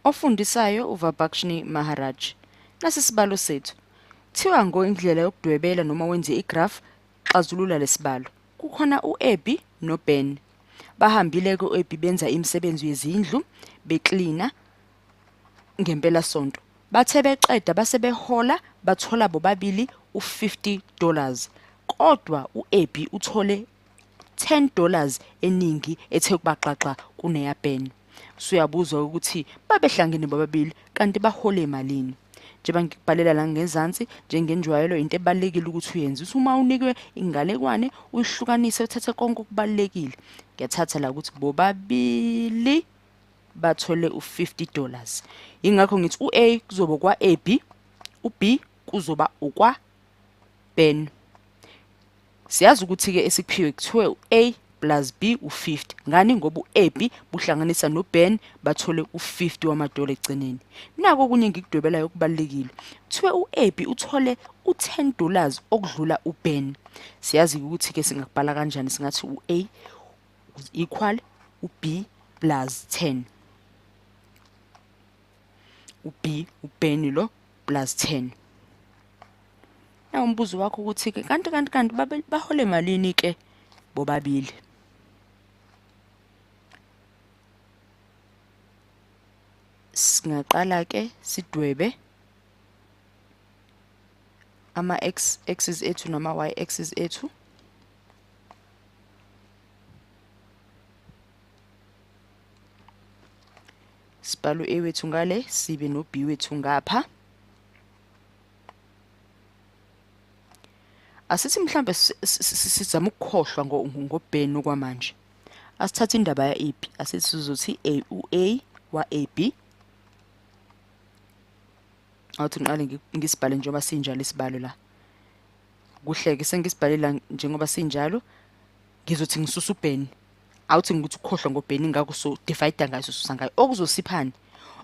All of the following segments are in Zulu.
Ofundisayo uVabhakshni Maharaj. Nasi isibalo sethu. Thiwa ngo indlela yokudwebela noma wenze igraph xazulula lesibalo. Kukhona uEbi noBen. Bahambile ke uEbi benza imisebenzi yezindlu beklina ngempela sonto. Bathe beqeda base behola bathola bobabili u50 dollars. Kodwa uEbi uthole 10 dollars eningi ethe kubaxaxa kuneya Ben suyabuza ukuthi babehlangene bobabili kanti bahole emalini njengoba ngikubhalela la ngezansi njengenjwayelo into ebalekile ukuthi uyenze uthi uma unikwe ingalekwane uyihlukanise uthathe konke okubalekile ngiyathatha la ukuthi bobabili bathole u50 dollars ingakho ngithi uA kuzoba kwaAB uB kuzoba ukwa Ben Siyazi ukuthi ke esikuphiwe kuthiwe uA plus B u50 ngani ngoba uAB buhlanganisa noBen bathole u50 wamadola egcineni nako okunye ngikudwebelayo okubalekile kuthiwe uAB uthole u10 dollars okudlula uBen siyazi ukuthi ke singakubhala kanjani singathi uA equal uB plus 10 uB uBen lo plus 10 na umbuzo wakho ukuthi ke kanti kanti kanti bahole malini ke bobabili singaqala ke sidwebe ama x axis ethu nama y axis ethu sibhala u-a wethu ngale sibe no-b wethu ngapha asithi mhlambe sizama ukukhohlwa ngobheni okwamanje asithathe indaba ya-ab asithi sizothi a u-a wa-ab awuthi ngiqale ngisibhale njengoba sinjalo isibalo la kuhleke sengisibhale la njengoba sinjalo ngizothi ngisusa uBenny awuthi ngikuthi ukhohlwa ngoBenny ngakho so divide ngayo susa ngayo okuzosiphani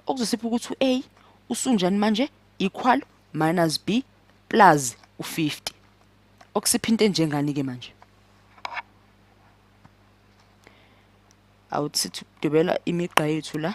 okuzosipha ukuthi uA usunjani manje equal minus B plus u50 okusipha into enjengani ke manje awuthi sithi ukudwebela imigqa yethu la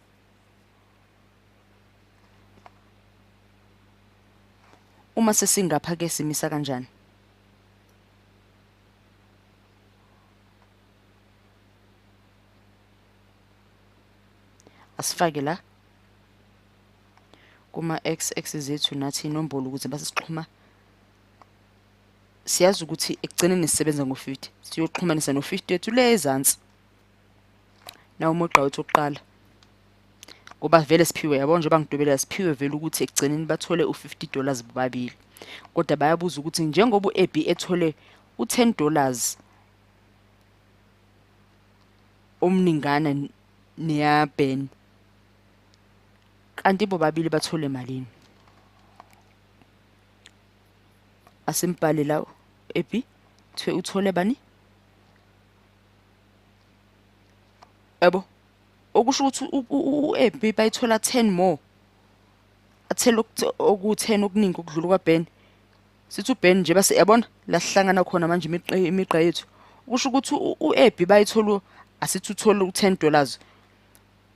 uma sesingapha ke simisa kanjani asifake la kuma x x zethu nathi inombolo ukuze basixhuma siyazi ukuthi ekugcineni sisebenza ngo-50 siyoxhumanisa no-50 wethu le ezansi na umugqa wethu oqala ngoba vele siphiwe yabo njengoba ngidubela siphiwe vele ukuthi ekugcineni bathole u-50 dollars bobabili kodwa bayabuza ukuthi njengoba u-ebi ethole u-10 dollars omningana neyaben kanti bobabili bathole malini asimbhale lawo ebi kuthiwe uthole bani yabo okusho ukuthi u-ab bayithola 10 more athela oku-10 okuningi okudlula kwaben sithi uben nje base yabona lasihlangana khona manje imigqa yethu kusho ukuthi u-ab bayithola asithi uthole u-10 dollars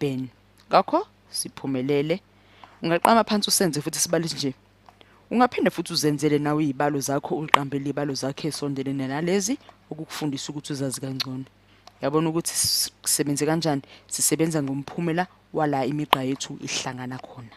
Ben. Ngakho siphumelele. Ungaqama phansi usenze futhi sibale nje. Ungaphinde futhi uzenzele nawe izibalo zakho uqambele izibalo zakhe esondele nalezi ukukufundisa ukuthi uzazi kangcono. Yabona ukuthi sisebenze kanjani? Sisebenza ngomphumela wala imigqa yethu ihlangana khona.